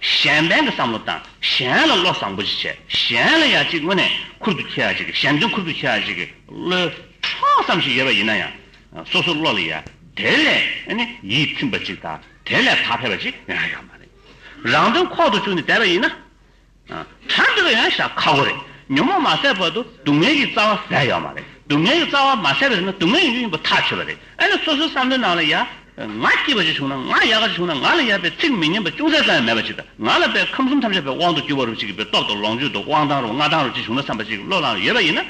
[SPEAKER 1] གཞན་ཕན་གྱི་བསམ་བློ་དང་གཞན་ལ་བློ་བཟང་པོ་ཞིག་བྱས་གཞན་ལ་ཡ་གཅིག་དངོས་གནས་ཁུར་དུ་ཁྱེར་བ་ཞིག་གཞན་དོན་ཁུར་དུ་ཁྱེར་བ་ཞིག་གི་བློའི་ཕྲོགས་བསམ་ཞིག་ཡོད་པ་ཡིན་ན་ཡང་སོ་སོའི་བློ་ལ་ཡ་དེ་ལས་ནི་ཡིད་ཚིམ་པ་ཅིག་དང་དེ་ལས་ཐག་ཕེབས་པ་ཅིག་ཡང་ཡོད་མ་རེད། རང་དོན་ཁོག་ཏུ་བཅུག་ནས་བསྡད་པ་ཡིན་ན། དྲ་འདུག་ཡང་བྱ་ཁག་པོ་རེད། ཉོན་མོངས་མ་སེལ་བར་དུ་སྡུག་བསྔལ་གྱི་རྩ་བ་ཟད་ཡོད་མ་རེད། སྡུག་བསྔལ་གྱི་རྩ་བ་མ་ཟད་པ་ཡིན་ན་སྡུག་བསྔལ་ཡོང་རྒྱུ་ཡིན་པ་ཐག་ཆོད་པ་རེད། ཨེ་ན་སོ་སོའི་བསམ་བློའི་ནང་ལ་ཡ། ང་སྐྱིད་པ་ཞིག་བྱུང་ན་ང་ཡག་ག་ཞིག་བྱུང་ན་ང་ལ་ཡ་པའི་ཚིག་མི་སྙན་པ་ཅུང་ཟད་ཙམ་ཡང་མེད་པ་ཞིག་དང་ང་ལ་པའི་ཁམས་གསུམ་ཐམས་ཅད་པའི་དབང་དུ་གྱུར་བ་རུ་ཅིག་གི་པའི་སྟོབས་དང་ལོངས་སྤྱོད་དང་དབང་ཐང་རུ་མངའ་ཐང་རུ་ཅིག་བྱུང་ན་བསམ་པ་ཅིག་གི་བློ་ལངས་ཡོད་པ་ཡིན་ན།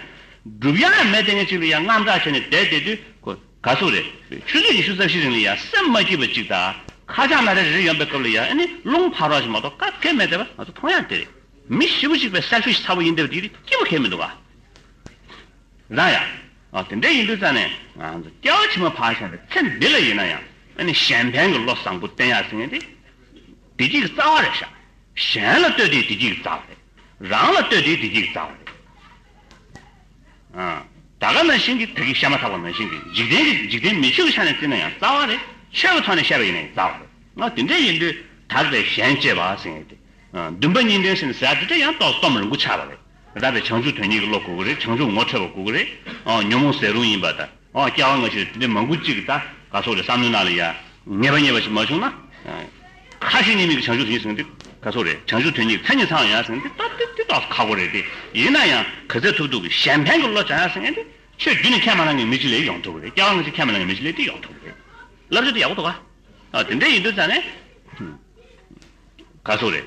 [SPEAKER 1] སྒྲུབ་ཡ་ཡང་མེད་དེ་ངས་ཅིག་ལ་ཡ་རྔམ་དྲག་བྱས་ནས་བསྡད་བསྡད་དུས། ག་ཚོད་རེད། ཆུ་ཚོད་ཉི་ཤུ་རྩ་བཞི་རིང་ལ་ཡང་སེམས་མ་སྐྱིད་པ་ཅིག་དང་ཁ་བྱང་ན་རེ་རེ་ཡོང་པའི་སྐབས་ལ་ཡང་ཨེ་ནི་རླུང་འཕར་བ་ཞིག་མ་གཏོགས་སྐབས་འགལ་མེད་དེ་བས་ང་ཚོ་མཐོང་ཡག་དེ་རེད། མི་བཞི་བོ་གཅིག་པའི་གསར་ཤོས་ཤི་ཚ་བོ་ཡིན་དེ་བས་དེ་ཡིད་སྐྱིད་པོ་གལ་མི་འདུག་ག་རང་ཡ། ཨོ་དེ་འདྲས་ཡིན་དུས་རྩ་ནས་ང་ཚོ་སྐྱ་བོ་ཆེན་མོ་ཕར་བཞག་ནས་ཚེ་འདི་ལ་ཡིན་ན་ཡང་ཨེ་ནི་གཞན་ཕན་གྱི་བློ་བཟང་པོ་བསྟེན་ཡག་ཟེར་ངེས་ཏེ། བདེ་སྐྱིད་ཀྱི་རྩ་བ་རེད་ཤག། གཞན་ལ་ལྟོས་དེའི་བདེ་སྐྱིད་ཀྱི་རྩ་བ་རེད། རང་ལ་ལྟོས་དེའི་བདེ་སྐྱིད་ཀྱི་རྩ་བ་རེད། ད་ག་ནང་བཞིན་གྱི་བོད་ཀྱི་ཤ་མ་ཐག་པ་ནང་བཞིན་གྱི་འཇིག་རྟེན་གྱི་འཇིག་རྟེན་མི་ཆོས་ཀྱི་ཆ་ནས་བརྩིས་ན་ཡང་རྩ་བ་ནས་ཆོས་ཀྱི་ཐོག་ནས་བཤད་པ་ཡིན་ན་ཡང་རྩ་བ་རེད་ང་དེ་འདྲས་ཡིན་དུས་དག་པའི་ཞལ་མཇལ་བ་ཟེར་ངེས་ཏེ། འདུན་པ་གཉིས་ལྡན་ཟེར་ནས་ཟེར་ཡག་དེ་འདྲས་ཡང་ཏོག་ཙམ་རིང་པོ་ཆགས་པ་རེད་ར་བའི་བྱང་ཆུབ་དོན་གཉིས་ཀྱི་བློ་དགོས་ཀྱི་རེད་བྱང་ཆུབ་ངོ་འཕྲོད་པ་དགོས་ཀྱི་རེད་ཨོ་ཉོན་མོངས་ཟད་རུང་ཡིན་པ་དང། ཨོ་སྐྱག་བ་ང་ཆོས་དེ་འདྲའི་མང་པོ་ཅིག་གི་ད་ག་སོག་རེད་བསམ་མནོ་གནང་ལ་ཡ། ངེས་པ་ཉེས་པ་ཞིག་མ་བྱུང་ན། ཁ་ཞེ་གཉིས་མེད་ཀྱི་བྱང་ཆུབ་ཡིན་ཟེར་མཁན་དེ་ག་སོག་རེད་བྱང་ཆུབ་དོན་གཉིས་ཀྱི་མཚན་ཉིད་ཚང་ཡ་ཟེར་མཁན་དེ་ད་དེ་དག་ཁག་པོ་རེད་དེ་ཡིན་ན་ཡང། ག་ཚད་ཐུབ་ཐུབ་ཀྱི་གཞན་ཕན་གྱི་བློ་བྱ་ཡ་ཟེར་མཁན་དེ་ཆོས་བརྒྱུད་ནས་ཁས་མ་བླངས་ཀྱི་མི་གཅིག་ལས་ཡོང་ཐུབ་ཀྱི་རེད་སྐྱག་བ་ང་ཆོས་ཁས་མ་བླངས་ཀྱི་མི་གཅིག་ལས་དེ་ཡོང་ཐུབ་ཀྱི་རེད། བསླབ་བྱ་དེ་ཡག་པོ་འདུག་ག། དེ་འདྲ་ཡིན་དུས་ཙང་ནས། ག་སོག་རེད།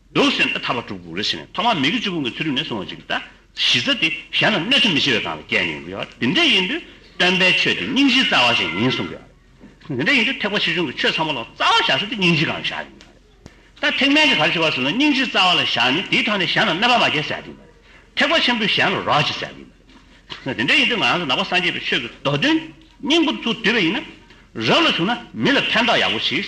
[SPEAKER 1] འདུག་ཟེར་ནས་ཐར་པ་དྲུག་འདུག་རེ་ཟེར་ནས་ཐོག་མར་མི་དགེ་བཅུ་སྤོང་གི་ཚུལ་རིག་ནས་གསུངས་བ་ཅིག་གདའ། གཞི་རྩ་དེ་གཞན་ལ་གནོད་འཚེ་མི་བྱེད་པའི་སྒང་ལ་བསྐྱལ་ནས་ཡོང་གི་ཡོད། དེ་འདྲ་ཡིན་དུས་སྟོན་པའི་ཆོས་དེ་སྙིང་རྗེའི་རྩ་བ་ཅན་ཡིན་གསུང་གི་ཡོད་རེད། དེ་འདྲ་ཡིན་དུས་ཐེག་པ་ཆེ་ཆུང་གི་ཆོས་ཚང་མ་ལ་རྩ་བ་བཞག་ས་དེ་སྙིང་རྗེའི་སྒང་ལ་བཞག་ཡོང་གི་ཡོད་རེད། ད་ཐེག་དམན་གྱི་གར་བྱེད་པ་ཚོས་ན་སྙིང་རྗེའི་རྩ་བ་ལ་བཞག་ནས་དེའི་ཐོག་ནས་གཞན་ལ་གནོད་པ་མ་བསྐྱལ་ཟེར་གྱི་ཡོད་རེད། ཐེག་པ་ཆེན་པོས་གཞན་ལ་རོགས་བྱེད་ཟེར་གྱི་ཡོད་རེད། དེ་འདྲ་ཡིན་དུས་ང་རང་ཚོ་ནག་པ་སངས་རྒྱས་པའི་ཆོས་ཀྱི་མདོ་དོན་སྙིང་པོ་ཚུར་བསྡུས་པ་ཡིན་ན། རབ་ལ་བྱུང་ན་མི་ལ་ཕན་ཐོགས་ཡག་པོ་མཆིས།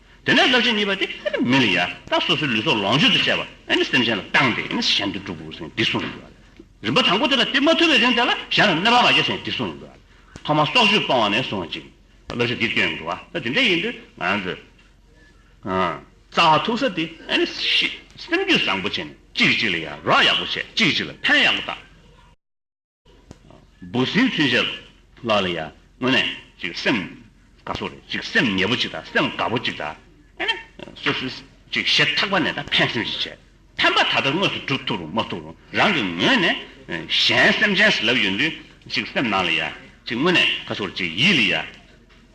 [SPEAKER 1] དེ་ནས་རླབས་ཆེན་གཉིས་པ་དེ་མི་ལ་ཡར་བཏབ་སོ་སོའི་ལུས་སྲོག་ལོངས་སྤྱོད་དུ་བྱས་པ་སེམས་ཅན་ལ་བཏང་སྟེ་གཞན་དུ་སྒྲུབ་དགོས་པའི་གསུངས་ཡོད། རིམ་པ་དང་པོ་དེ་ལ་དེ་མ་ཐུབ་པའི་རིང་དེ་ལ་གཞན་ལ་གནོད་པ་མ་བྱེད་ཟེར་ནས་གསུངས་ཡོད། ཐོག་མར་སྲོག་གཅོད་སྤོང་བ་ནས་བཟུང་ཅིང་བསླབ་བྱ་འདིར་བསྐྱོན་ཡོད་འདུག་ད་དེ་འདྲ་ཡིན་དུས་ང་རང་ཚོས་རྩ་བ་ཐུག་ས་དེ་སེམས་རྒྱུད་བཟང་པོ་བྱས་ནས་གཅིག་གིས་གཅིག་ལ་ཡར་རོགས་ཡག་པོ་བྱས་གཅིག་གིས་གཅིག་ལ་ཕན་ཡག་པོ་བཏགས། འབུ་སྲིན་ཚུན་ཆད་ལ་ལ་ཡ་དངོས་གནས་ཅིག་སེམས་དགའ་སོ་རེད་ཅིག་སེམས་ཉེས་པོ་ཅིག་དང་སེམས་དགའ་པོ་ཅིག་དང་ཨེ་ན་སོ་སོས་ཅིག་ཞེ་ཐག་པ་ནས་དང་ཕན་སེམས་ཅིག་བྱས་ཕན་པ་ད་ལྟ་དངོས་སུ་བསྒྲུབ་ཐུབ་རུང་མ་ཐུབ་རུང་རང་གི་ངོས་ནས་གཞན་སེམས་ཅན་ཞིག་ལབ་ཡོད་དུས་ཅིག་སེམས་ནང་ལ་ཡ་ཅིག་དངོས་གནས་དགའ་སོ་རེད་ཅིག་ཡིད་ལ་ཡ་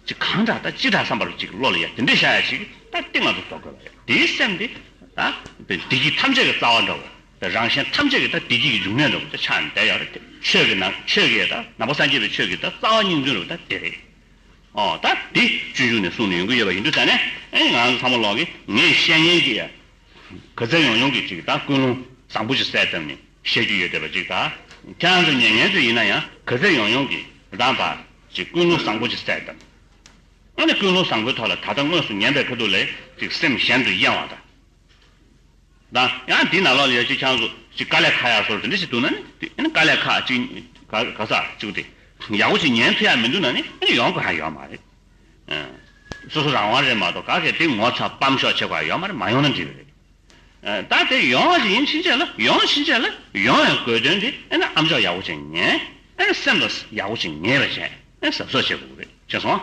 [SPEAKER 1] ཅིག་གང་འདྲ་དང་ཅི་འདྲ་བསམ་པ་རེད་ཅིག་བློ་ལ་ཡ་དེ་འདྲས་བཞག་ཡ་ཅིག་ད་སྟེ་ང་ཚོ་བཟོ་དགོས་པ་རེད་དེའི་སེམས་དེ་ད་འདི་ཀྱི་ཐམས་ཅད་ཀྱི་རྩ་བ་འདྲ་བོ། རང་གཞན་ཐམས་ཅད་ཀྱི་དང་བདེ་སྐྱིད་ཀྱི་འབྱུང་གནས་རེད་བོ་ཆ་འདི་ཡོད་རེད་དེ་ཆོས་ཀྱི་ནང་ཆོས་ཀྱི་དང་ནང་པ་སངས་རྒྱས་པའི་ཆོས་ཀྱི་དང་རྩ་བ་སྙིང་དོན་རེད་བོ་ད་འདི་རེད་ཨོ་ད་འདི་སྤྱོད་འཇུག་ནས་གསུངས་ནས་ཡོང་གི་ཡོད་པ་ཡིན་དུས་ཟེར་ནས་ཨེ་ང་རང་ཚོ་ཚང་མ་ལོག་གིས་ངས་བཤད་ཉན་གྱི་ཡ་གི་རྩལ་ཡོང་ཡོང་གིས་ཅིག་ད་ཀུན་སློང་བཟང་པོ་ཅིག་གསལ་བཏབ་ནས་བཤད་རྒྱུ་ཡོད་བསྡད་པ་ཅིག་ད་ཁྱེད་རང་ཚོ་ཉན་ཉན་དུས་ཡིན་ན་ཡང་གི་རྩལ་ཡོང་ཡོང་གིས་གདང་བ་ཅིག་ཀུན་སློང་བཟང་པོ་ཅིག་གསལ་བཏབ་ཨ་ནི་ཀུན་སློང་བཟང་པོའི་ཐོག་ལ་ད་ལྟ་དངོས་སུ་ཉན་པའི་ཁ་ཐུག་ལས་ཅིག་སེམས་གཞན་དུ་གཡེང་བ་དང། དང། ཡང་དེའི་ནང་ལོགས་ལ་ཡོད་ཅིག་ཆང་གཟུགས་ཅིག་དཀའ་ལས་ཁ་ཡག་སོར་དེ་འདྲ་ཞིག་འདུག་ན་ནི། དེ་ནི་དཀའ་ལས་ཁ་ཅིག་ག་ས་བཅུག་སྟེ། ཡག་པོ་ཞིག་ཉན་ཐུབ་ཡག་མི་འདུག་ན་ནི་ཡོང་དགོས་ཧ་ཡོད་མ་རེད། སོ་སོ་རང་དབང་རེད་མ་གཏོགས་ག་གེ་དེ་ངོ་ཚ་སྤམ་ཤོག་བྱེད་དགོས་ཧ་ཡོད་མ་རེད་མ་ཡོང་ན་འགྲིག་རེད། ད་དེ་ཡོང་བ་ཞིག་ཡིན་ཕྱིན་ཆད་ལ་ཡོང་ཕྱིན་ཆད་ལ་ཡོང་བའི་དགོས་དོན་དེ་ཨེ་ན་ཨམ་ཅོག་ཡག་པོ་ཅིག་ཉན། ཨེ་ན་སེམས་ལ་ཡག་པོ་ཅིག་ངེས་པ་བྱས་ཨེ་ན་ཟབ་ཟོབ་བྱེད་དགོས་རེད་ཤེས་སོང།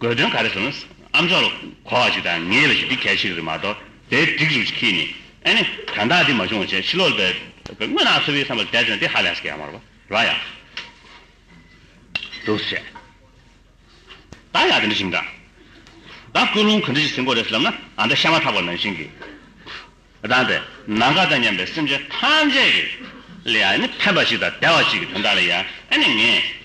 [SPEAKER 1] དགོས་དོན་ག་རེ་བཟུང་ཨམ་ཅོག་ལ་གོ་བ་ཞིག་དང་ངེས་པ་ཞིག་འདི་གལ་ཆེ་གི་རེད་མ་གཏོགས་དེའི་སྒྲིག་རུ་ཞིག་ཁྱེད་ནས་ཨ་ནི་དོན་དག་འདི་མ་བྱུང་བ་བྱས་ཕྱི་ལོག་ལྟ་དངོས་ནང་འཚོ་བའི་བསམ་པ་དལ་དོན་འདི་ཧ་ལས་སུ་ག་ཡང་མ་རོ་ཡ་འདུག་བྱས་ད་ཡག་དེ་འདྲ་ཞིག་འདྲ་ད་ཀུན་སློང་ག་འདྲ་ཞིག་ཟིན་གོ་རེད་ཟེར་ལབ་ན་ཨ་མདའ་ཤ་མ་ཐག་པ་ནང་བཞིན་གི་དང་དེ་ནང་ག་དང་སྙམ་པའི་སེམས་ཅན་ཐམས་ཅད་ཀྱི་ལ་ཡ་ནི་ཕན་པ་ཞིག་དང་དལ་བ་ཞིག་གི་དོན་དག་ལ་ཡ་ཨ་ནི་ངས།